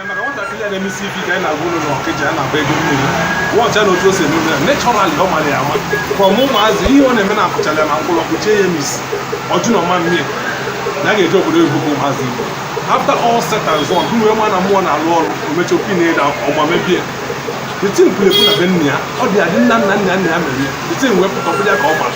maka nwatakịrị a na-emesi ife ike anyị na-agwa unu na ọkịja a na-akpọ ego mmiri wọcha na otu o si eme ya nechọralị ọ mara ya ama ka ọmụ ụmụazị ihe ọ na-eme na akụchala ya na mkpụrụ ọkụ chee ya misi ọjụ na ọma mmiri na a ga-eji obodo oyibo bụ ụmụazị igbo after all said and done bụ wee ma na mmụọ na-alụ ọrụ omechi opi na-ede ọgba mebie the thing kwuru ekwu na be nna ya ọ dị adị nna nna nna nna ya mere ya the thing wee pụta ọbụla ka ọ gbara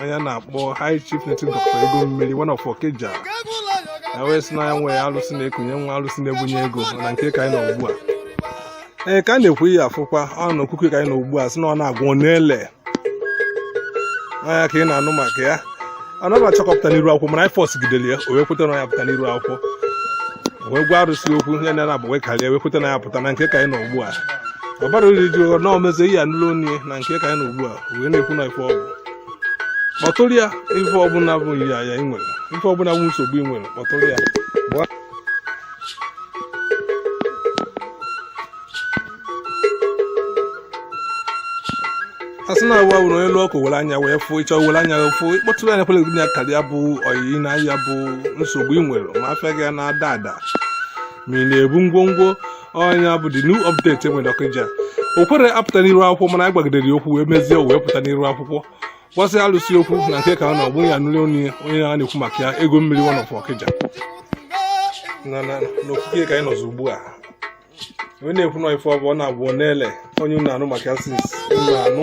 onye na-akpọ high chief native doctor ego mmiri one of Okija ya wee sị na ya nwee alụsị na-ekunye nwa alụsị na-ebunye ego na nke ka anyị nọ ugbu a ee ka a na-ekwu ihe afụkwa ọ na okuku ka anyị nọ ugbu a sị na ọ na-agwọ ọ na-ele onye a ka ị na-anụ maka ya ọ naghị achọ ka ọ pụta n'iru akwụkwọ mana anyị forcegidere ya o wee kweta na ya pụta n'iru akwụkwọ o wee gwa arụsị okwu ya na agba wee karịa wee kweta na ya pụta na nke ka anyị nọ ugbu a ọ bara uru iji ụgha na omezo ihe ya nụlụ onye na nke ka anyị nọ ugbu a wee na-ekwu na ife ọ bụ kpọtụrụ ya ife ọbụla bụ nrịa ị nwere ife ọbụla bụ nsogbu ị nwere kpọtụrụ ya a sị na awa wụrụ elu ọkụ were anya wee fụ ị chọọ were anya wee fụ ị kpọtụrụ anya kwere na karị ya bụ oyiyi na ya bụ nsogbu ị nwere ma afịa gị na-ada ada ma ị na-ebu ngwongwo onye bụ the new update e nwere ọkịja o kwerọ apụta n'iru akwụkwọ mana a gwagidere ya okwu wee mezie wee pụta n'iru akwụkwọ gwasịa alụsị okwu na nke ka ọ na-agbụ ya nụrụ onye onye a na-ekwu maka ya ego mmiri one of ọkịja na na n'okike ka anyị nọzi ugbu a onye na-ekwu na ife ọ bụ ọ na-agwọ ọ na-ele onye unu anụ maka ya since unu anụ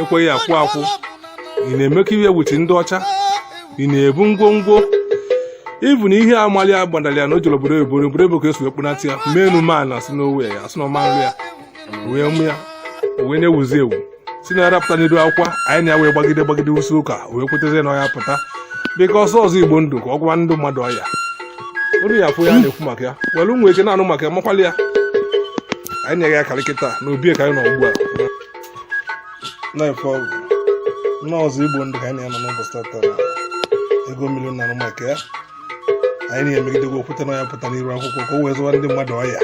ekweghị akwụ akwụ ị na-eme ka e wee wuchi ndị ọcha ị na-ebu ngwongwo even ihe amali a gbadara ya na o jere obodo oyibo obodo ebe ka e si ekpunata ya menu man na sinowe ya a sị na ọma nri ya wee mụ ya wee na-ewuzi ewu si na arapụta n'iru akwụkwọ anyị na ya wee gbagide gbagide usi ụka wee kwetazie na ọ ya-apụta because ọzọ igbo ndụ ka ọ gwa ndị mmadụ ọya olu ya afụ ya na-ekwu maka ya were ụmụ eke na-anụ maka ya makwali ya anyị na-eghe ya karịkịta na obi ka anyị nọ ugbu a na ife ọ bụ n'ọzọ igbo ndụ ka anyị na-anọ n'ụbọchị tata na ego mmiri na-anụ maka ya anyị na-emegidegwa okwute na ya pụta n'iru akwụkwọ ka o wee zụwa ndị mmadụ ọya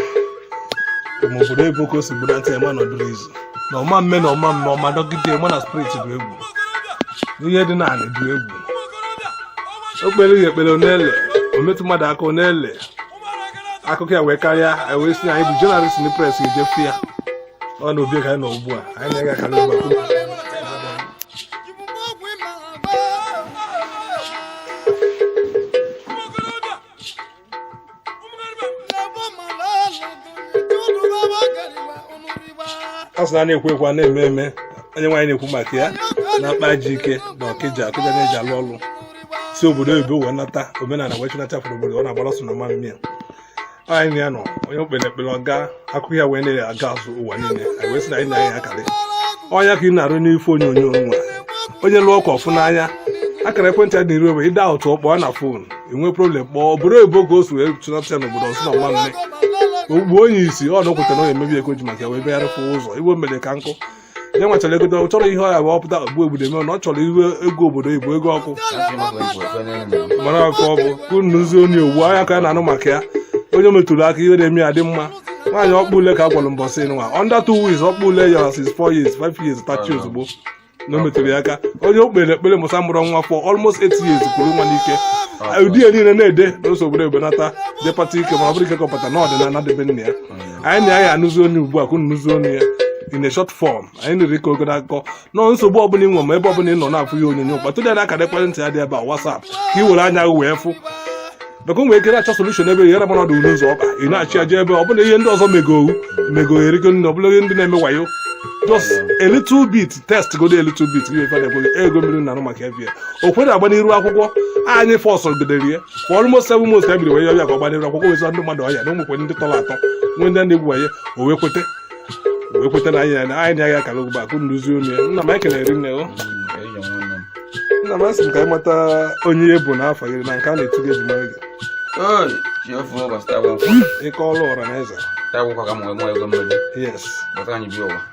ma obodo ebe ka o si gburu ntị ma nọdụrụ izu na ọma mme na ọma mme ọma dọgide ma na spirit bụ egwu ihe dị n'ala bụ egwu o kpere ya ekpere ọ na-ele o metụ mmadụ aka ọ na-ele akụkọ ya wee karịa wee sị na anyị bụ journalist press ejefe ya ọ na obi ka anyị nọ ugbu a anyị na-ega ka n'ụgbọ a sị na na-ekwu ekwu a na-eme eme onye nwaanyị na-ekwu maka ya na mkpa ji ike na ọkịja ọkịja na-eji alụ ọlụ si obodo oyibo wee nata omenala wee chịnata fụrụ obodo ọ na-agbara ọsọ na mmanụ mmiri anyị na ya nọ onye okpere ekpere ọga akụ ya wee na-aga azụ ụwa niile anyị wee sị na anyị na-anya akarị ọnya ka ị na-afụ n'ife onyonyo nwa onye lụọ ọkụ ọfụ n'anya akara ekwentị a dịrị ogbe ịda ụtụ kpọọ na fon i nwee problem kpọọ obodo oyibo ka o si wee chụnapụta n'obodo ọsụ na nwa mme ogbu onye isi ọ nọkwụta na onye emebi ego ji maka ya wee bịara fụ ụzọ igbo mere ka nkụ ya nwa chọrọ ego ọ chọrọ ihe ọya bụ ọpụta ogbu obodo eme na ọ chọrọ iwe ego obodo ibu ego ọkụ mara ọkụ ọ bụ ka unu nụzie onye owu anya ka a na-anụ maka ya onye metụrụ aka ihe na-eme ya dị mma nwaanyị ọkpụ ule ka a gwara mbọsị nwa under two weeks ọkpụ ule ya is four years five years tachi ozugbo na o metụrụ ya aka onye o kpere ekpere mụsa mụrụ nwa for almost eight years kwuru nwa n'ike ụdị ya niile na-ede na ụzọ obodo ebenata depata ike ma ọ bụrụ ike kọpụta na ọdịnala dị be nna ya anyị na ya ya anụzi onye ugbu a ka unu nụzi onye ya in a short form anyị nere ike ogoro akụkọ nọ nsogbu ọbụla i nwe ma ebe ọbụla ị nọ na-afụ ya onyonyo kpọtụ ya n'akara ekwentị ya dị ebe a WhatsApp ka ị were anya gị wee fụ maka nwere ike na-achọ solution ebe ghere mara ọdụ n'ụzọ ọba ị na-achụ aja ebe ọ bụla ihe ndị ọzọ megoghu megoghe erigo nne ọ bụla ihe ndị na-eme wayo just a little bit test godu a little bit gị ife na-ekweghị ego mmiri na anụ maka ife o kwere aga n'iru akwụkwọ anyị fọsọ gedere ya kwa almost seven months ka ebiri wee ya ọbịa ka ọ gbanyere akwụkwọ wezi ndị mmadụ ọya na ụmụkwe ndị tọrọ atọ nwee ndị na-egwu wanye o wee kwete o wee kwete na anyị na anyị na-aga akara ogbe akụ nduzi unu ya nna m anyị kelere nne o nna m asị m ka anyị mata onye ị bụ na afa gị na nke a na-etu gị e ji ama gị Oi, Jehova ụbọchị taa bụ nkwọ. ịkọ ọrụ ọra na eze Taa bụ nkwọ ka m wee mụọ ego mmiri. yes Bọta anyị bi ụwa.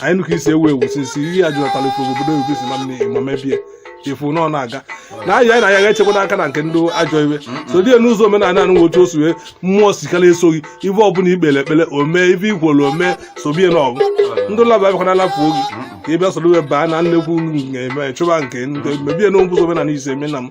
anyị nụka isi ewu ewu sisi ihe ya jụnatara ikwu obodo oyibo si ma nne ịma mebie efu na ọ na-aga na ahịa anyị na ya ga-echekwa n'aka na nke ndị ajọ iwe so die n'ụzọ omenala anụ nwotu osu wee mmụọ sikara esoghị ife ọbụla i kpere ekpere o mee ife i kwuru o mee sobie na ọgụ ndị laba abịakwa na alapụ oge ka ị bịa soro wee baa na nnekwu na-eme chụba nke ndị mebie n'ụzọ omenala ise eme na m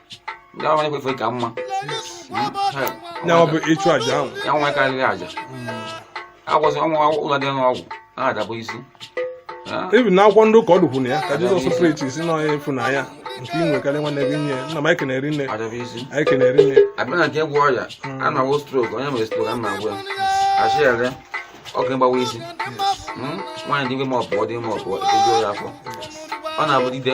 ndị ahụ ekwefe ka mma ya ọ bụ ịchụ aja ahụ ya nwa karịrị aja agwọzi ọnwa ụlọ dị n'ọgwụ a adabụ isi ebi na akwụkwọ ndị ụka ọ dụkwuru ya ka Jesus preachi sị na onye efu na ya nke ị nwekarị nwanne gị nye nna m anyị kenere nne anyị kenere nne a bịa na nke ịgwọ ọrịa a na-agwọ stroke onye mere stroke a na-agwọ ya achị ere ọkụ ịgbawa isi nwaanyị dị ime ma ọ pụọ dị ime ọ pụọ ejuo ya afọ ọ na-abụ dide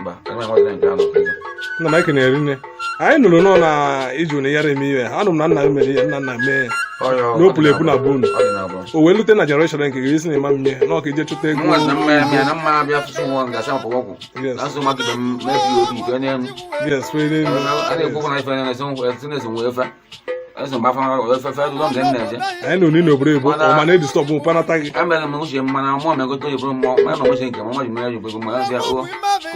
mba enweghị nke anọ nna m anyị kenere nne anyị nụrụ nọ na iji ụnụ yara eme ihe anụ m na nna m mere ihe nna nna mee n'opụrụ epu na bụ unu o wee lute na generation nke gị ị sị na ịma mmie na ọ ka i je chụta ego yes eso m afara ofefe lụlọ mgbe m na-eje anyị na onye n'obodo ebo Mana- ọma na-edistọbụ mpanata gị emere m uche mana mụọ megote oyibo mmụọ ma eme uche nke m nwa ji mere oyibo ma ya o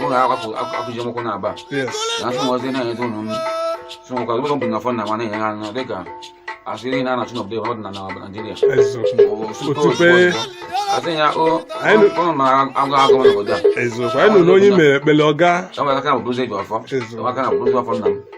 ụlọ akwapụ akwụji nwokwụ na aba yes na asụ nwozi na-enyeta ụlọ m so nwekwa ụlọ bụ na fọ na mana enye ha anya dịka a sịrị na a na-achụ n'obodo ebe ọ dị na na Naịjirịa eziokwu Otupe. asị ya o Anyị- ụlọ ma agụ agụ n'obodo a eziokwu anyị na onye mere ekpele ọga e nwere aka na bụrụzi e ji ọfọ Eziokwu. e nwere aka na bụrụzi ọfọ nna m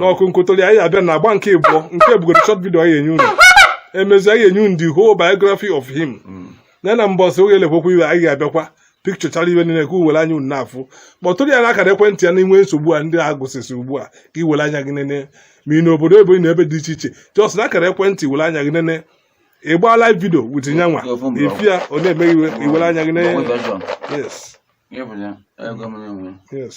n'ọkụ nkotoli anyị abịa na agba nke ịbụọ nke bugoro short video anyị enye unu emezi anyị enye unu the whole biography of him mm. na na mbọsị oge elekwokwu iwe anyị ga-abịakwa pikchọchara iwe niile ka unu were anya unu na-afụ kpọtụrụ ya n'akara ekwentị ya na i nwee nsogbu a ndị a gụsịsị ugbu a ka i were anya gị nene ma ị n'obodo oyibo na ebe dị iche iche just na akara ekwentị were anya gị nene ị gbaa live video with nya nwa ị fụ ya ọ na-eme iwe i were anya gị nene yes yes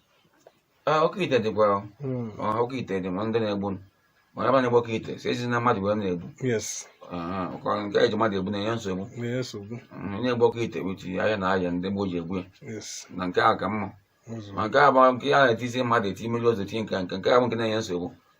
oke ite dịkwa hmm. oke ite dị ma ndị na-egbu mana ebe a na-egbu oke ite siezi na mmadụ wee na-egbu nke e ji mmadụ egbu na-enye nsogbu hmm, onye egbu oke ite with ahịhịa na ahịhịa ndị gboo ji egbu ya na nke a ka mma ma nke a bụ nke a na-etizi mmadụ eti mmiri ozu tinye nke nke nke a bụ nke na-enye nsogbu